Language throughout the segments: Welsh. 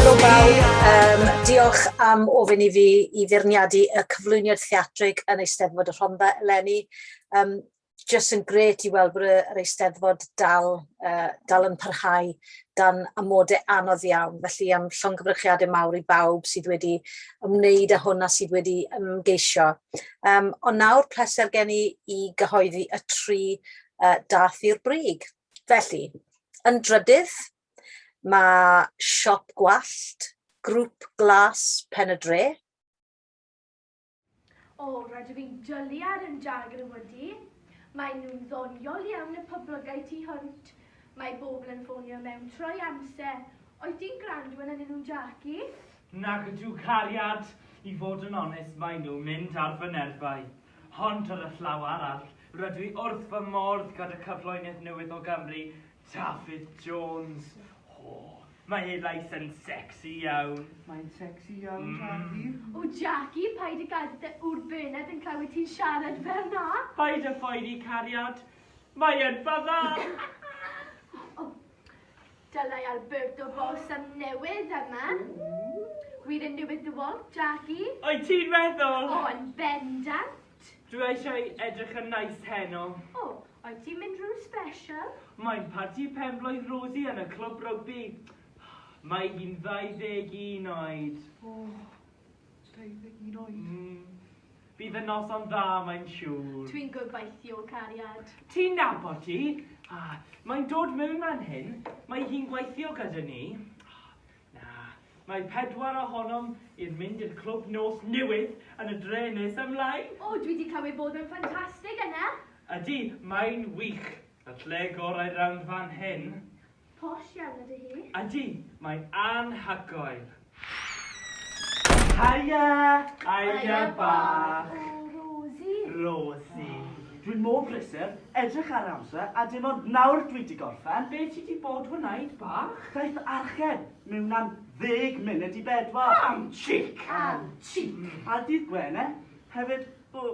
Helo bawb, yym diolch am ofyn i fi i feirniadu y cyflwyniad theatrig yn Eisteddfod y Rhondda eleni, yym jyst yn grêt i weld bod yr Eisteddfod dal yy dal yn parhau dan amode anodd iawn, felly am llongyfarchiade mawr i bawb sydd wedi ymwneud â hwn a sydd wedi ymgeisio. Um, ond nawr pleser gen i i gyhoeddi y tri uh, dath i'r brig. Felly, yn drydydd, mae siop gwallt, grŵp glas pen y dre. O, rhaid i fi'n jolly ar yn jagr yn wedi. Mae nhw'n ddoniol iawn y poblogau tu hwnt. Mae bobl yn ffonio mewn troi amser. Oes ti'n gwrando yn ynyn nhw'n Jackie? Nag ydyw cariad, i fod yn onest, mae nhw mynd ar fy nerfau. Hond ar y llaw arall, rydw i wrth fy mordd gada cyfloenedd newydd o Gymru, Dafydd Jones. O, mae ei lais yn secsi iawn. Mae'n secsi iawn, Jackie. Mm. O, Jackie, paid a gadael dy ŵr bened yn clywed ti'n siarad fel na. Paid a phoeni, cariad. Mae yn fyddan. Dylai Alberto Boss am newid yma. Gwir yn newid dy walt, Jackie? Wyt ti'n meddwl? O, yn bendant. Dwi eisiau edrych yn nice heno. O, wyt ti'n mynd rhyw special? Mae'n parti penblwydd Rosie yn y clwb rygbi. Mae hi'n 21 oed. O, 21 oed. Mm. Bydd y noson dda, mae'n siŵr. Dwi'n gobeithio, cariad. Ti'n nabod ti? Ah, mae'n dod mewn man hyn. Mae hi'n gweithio gyda ni. Mae pedwar ohonom i'r mynd i'r clwb nos newydd yn y dre nes ymlaen. O, dwi wedi clywed bod yn ffantastig yna. Ydy, mae'n wych. At lle gorau'r rownd fan hyn. Posh iawn ydy hi. Ydy, mae'n anhygoel. Haia! Haia bach! O, Rosie. Rosie. Dwi'n mor brysur, edrych ar amser, a dim ond nawr dwi di gorffen. Be ti di bod wneud, bach? Daeth archen mewn am ddeg munud i bedwar. Am chic! Am chic! A dydd Gwene hefyd, o,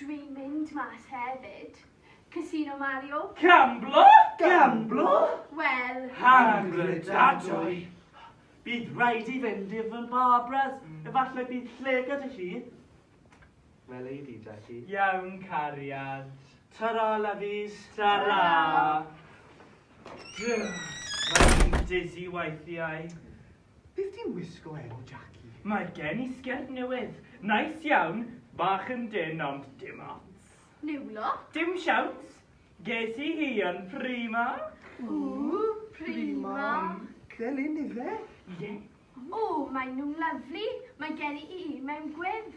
Dwi'n mynd mas hefyd. Casino Mario? Gamblo? Gamblo? Wel. Hangredadwy. Bydd rhaid i fynd i fy Barbara's. Efallai bydd lle gyda hi. Fel ei di, Jackie. Iawn, cariad. Tara, lovies. Tara. Mae'n dizzy weithiau. Beth ti'n wisgo eni, Jackie? Mae gen i sgert newydd. Neis iawn, bach yn dynn ond dim ots. Niwlo? Dim siawns. Ges i hi yn Primark. Ww, Primark. Fel un ife? Ie. O, maen nhw'n lyfli. Mae gen i un mewn gwyrdd.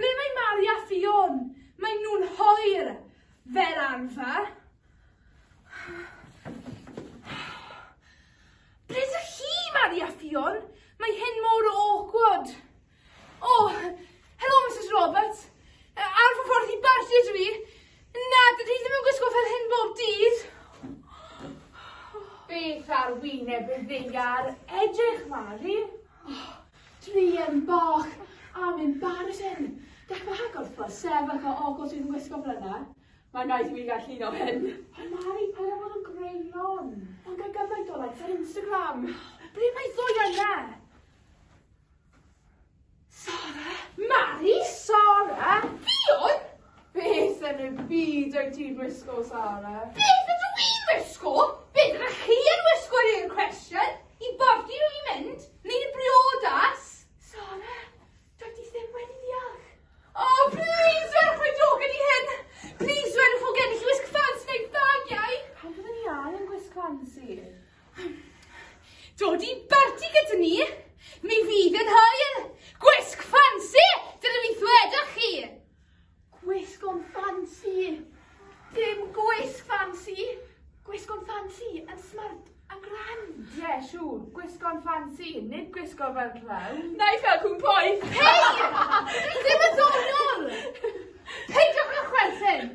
Ble mae Mari a Ffion? Mae nhw'n hoer, fel arfer. Ble dych chi, Mari a Ffion? Mae hyn mor awkward. Oh, hello, Mrs Roberts. Ar fy ffordd i barti ydw i. Na, dydw i ddim yn gwisgo fel hyn bob dydd. Beth ar wyneb y ddeiar edrych, Mari? Oh, Druan bach am yn barod hyn. Gall fy hagor ffordd sef ac o ogl sydd yn gwisgo bryna. Mae'n rhaid i mi gael llun o hyn. Ond Mari, paid â bod yn greulon. Ond gael gymaint o likes ar Instagram. Ble mae Zoya yna? Sara? Mari? Sara? Ffion? Beth yn y byd wyt ti'n wisgo, Sara? Beth ydw i'n wisgo? Beth ydych chi yn wisgo yw'r cwestiwn. I borti rwy'n mynd, neu i briodas? Sara, doedd di ddim wedi ddeall. O, plis dwedwch mai jôc ydy hyn! Plis dwedwch fod gennych chi wisg ffansi neu bagiau! Pam byddwn ni angen gwisg ffansi? Dod i barti gyda ni! Mi fydd yn hwyl! Gwisg ffansi! Dyna beth ddwedwch chi! Gwisg o'n ffansi! Dim gwisg ffansi! Gwisg o'n ffansi yn smart a grand! Ie, yeah, siŵr, gwisg o'n ffansi, nid gwisg o'n fel clown! Neu fel cwn poeth! Hei! Ddim yn ddonol! Peidiwch â chwerthin!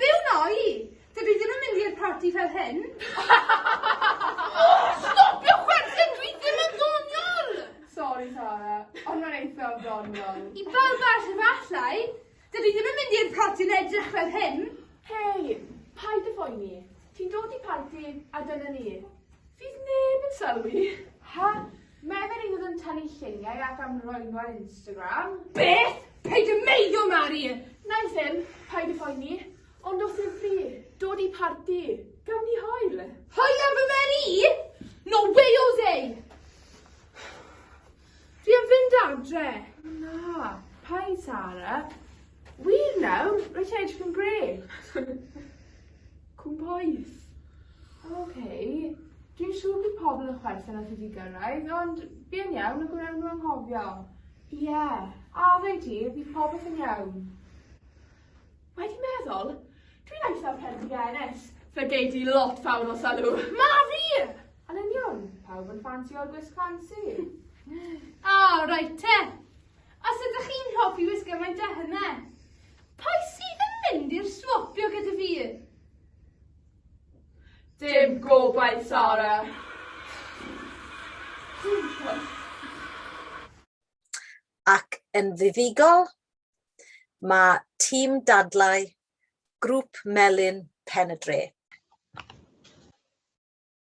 Be wn i? Dydw i ddim yn mynd i'r parti fel hyn. O! Stopio chwerthin, dwi ddim yn ddoniol! Sori Tara, ond mae'n eitha o ddoniol. I bawb arall efallai. Dydw i ddim yn mynd i'r parti yn edrych fel hyn. Hei, paid â phoeni. Ti'n dod i parti a dyna ni. Fydd neb yn sylwi. Ha? Mae fy rhydd yn tynnu lluniau ac am roen ar Instagram. Beth? Paid y meiddio, Mari! Nai ddim, paid y phoeni. Ond os yw fi, dod i parti, gawn ni hoel. Hoel ar fy mer i? No way o ddeu! Fi am fynd adre. Na, paid Sara. Wir nawr? Rwyt ti'n edrych yn grêt. Cwmpoeth. Oce. Okay. Dwi'n siŵr bydd pobl yn chwerthin at wedi gyrraedd, ond bu'n iawn y gwnewn nhw anghofio. Ie, yeah. a ddau ti, bydd popeth yn iawn. Wedi meddwl, dwi'n eitha perdigenes. Fe gei di lot fawr o salw. Ma fi! Yn union, pawb yn ffansi o'r gwisg ffansi. O, oh, reit te. Os ydych chi'n hoffi wisgo mae Dyha yma! Pwy sydd yn mynd i'r swopio gyda fi? Dim gobaith, Sara. Ac yn fuddugol, mae Tîm Dadlau Grŵp Melin Pen-y-dre.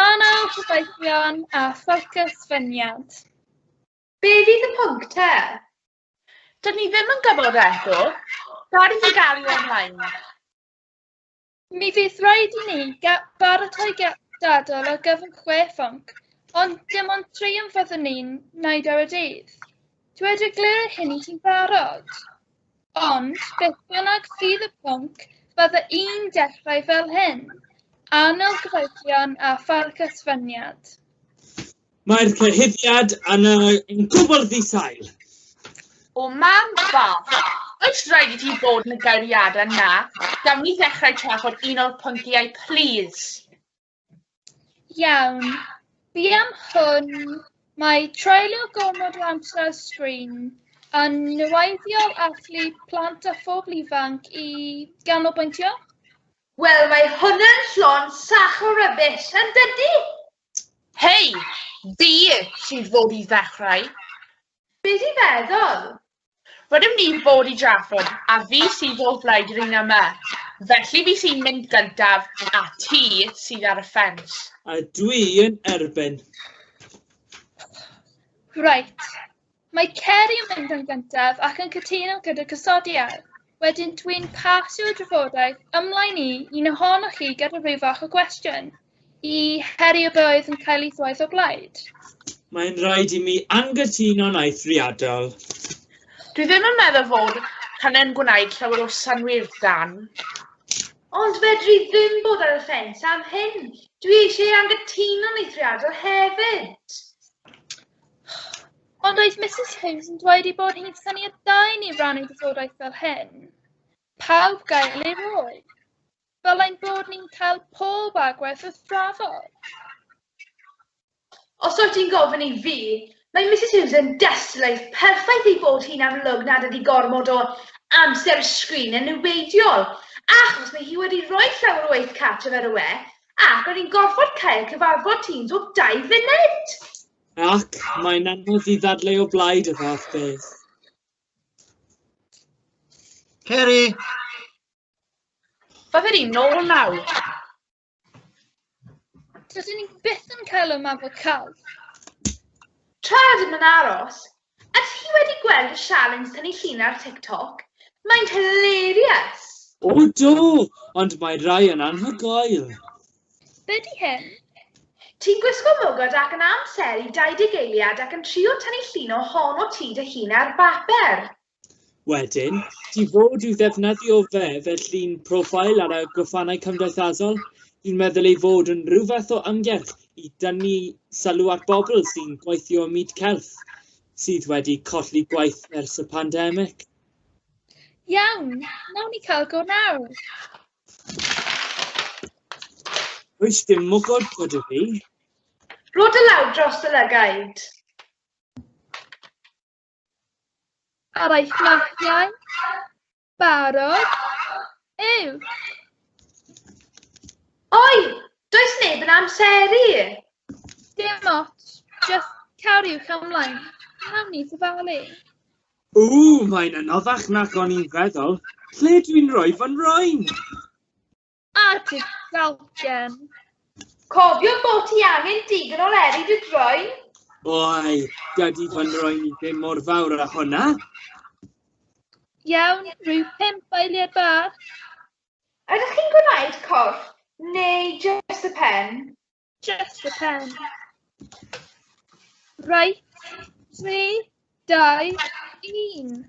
Anau Gobaithion a Ffocws Ffyniant. Be fydd y pwnc te? Dyn ni ddim yn gwybod eto. Rhaid i ni gael ei ymlaen. Mi fydd rhaid i ni baratoi dadl o gyfnod chwe phwnc, ond dim ond tri yn fyddwn ni'n wneud ar y dydd. Dweud y glir hynny ti'n barod? Ond beth bynnag fydd y pwnc, bydda i'n dechrau fel hyn, Arnold Gyfeillion a Pharc Ysfyniad. Mae'r cyhuddiad yn yn gwbl ddi-sail. O mam bach, oes rhaid i ti fod yn y gairiadau 'na? Gawn ni ddechrau trafod un o'r pynciau, plîs? Iawn. Buam hwn, mae treulio gormod o amser ar sgrin yn niweiddiol allu plant a phobl ifanc i ganolbwyntio? Wel, mae hwnna'n llon sach o rybys, yn dydy? Hei, di sy'n fod i ddechrau. Be di feddwl? Rydym ni fod i drafod a fi sydd o blaid yr un yma, felly fi sy'n mynd gyntaf a ti sydd ar y ffens. A dwi yn erbyn. Reit. Mae Ceri yn mynd yn gyntaf ac yn cytuno gyda cysodiad. Wedyn dwi'n pasio'r drafodaeth ymlaen i un ohonoch chi gyda rhyw fath o gwestiwn. I Harry y Bywyd yn cael ei thwaith o blaid? Mae'n rhaid i mi angytuno'n eithriadol. Dwi ddim yn meddwl fod hynny'n gwneud llawer o sanwyr dan. Ond fedri ddim bod ar y ffens am hyn. Dwi eisiau angytuno'n eithriadol hefyd. Ond oedd Mrs Hughes yn dweud ei bod hi'n syniad da i ni rannu gwybodaeth fel hyn? Pawb gael ei rôl. Fel ein bod ni'n cael pob agwedd wrth drafod. Os wyt ti'n gofyn i fi, mae Misus Hughes yn destunaidd perffaith ei bod hi'n amlwg nad ydi gormod o amser sgrin yn niweidiol, achos mae hi wedi rhoi llawer o waith cartref ar y we, ac o'n i'n gorfod cael cyfarfod Teams o dau funud! Ac mae'n anodd i ddadlau o blaid y fath beth. Ceri! Beth ydi, nôl nawr? Tydyn ni byth yn cael ymateb cael. Tra ydym yn aros, a ti wedi gweld y sialens tynnu llun ar TikTok? Mae'n hilarious! O do, ond mae rai yn anhygoel. Be di hyn? Ti'n gwisgo mwgod ac yn amseru 20 eiliad ac yn trio tynnu llun o hon o ti dy hun ar bapur. Wedyn, ti fod i'w ddefnyddio fe fel llun profile ar y gwefannau cymdeithasol, dwi'n meddwl ei fod yn rhyw fath o ymgyrch i dynnu sylw at bobl sy'n gweithio ym myd celf, sydd wedi colli gwaith ers y pandemig. Iawn, nawn ni cael go nawr. Oes dim mwgod bod y fi? Rod y law dros y lygaid. Ar ei fflagiau, barod, yw. Oi, does neb yn amseru. Dim ots, just cariwch ymlaen. Nawn ni dyfalu. O, mae'n anoddach nag o'n i'n feddwl. Lle dwi'n rhoi fy nroen? A ti dalgen. Cofio bod ti angen digon o leri dy droen. Oi, dydy fy nroen i ddim mor fawr a hwnna. Iawn, rhyw pimp eiliad bach. Ydych chi'n gwneud corff neu jyst y pen? Just the pen. Right, three, die, un.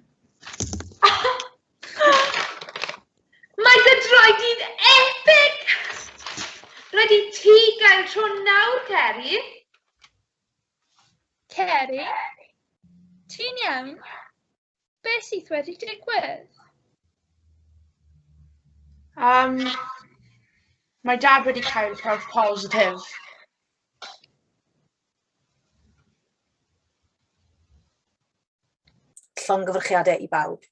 Mae dy droed i'n epic! Rhaid i ti gael tro nawr, Ceri. Ceri, ti'n iawn? Be sydd wedi digwydd? Um, mae dad wedi cael prawf positif. Llongyfrchiadau i bawb.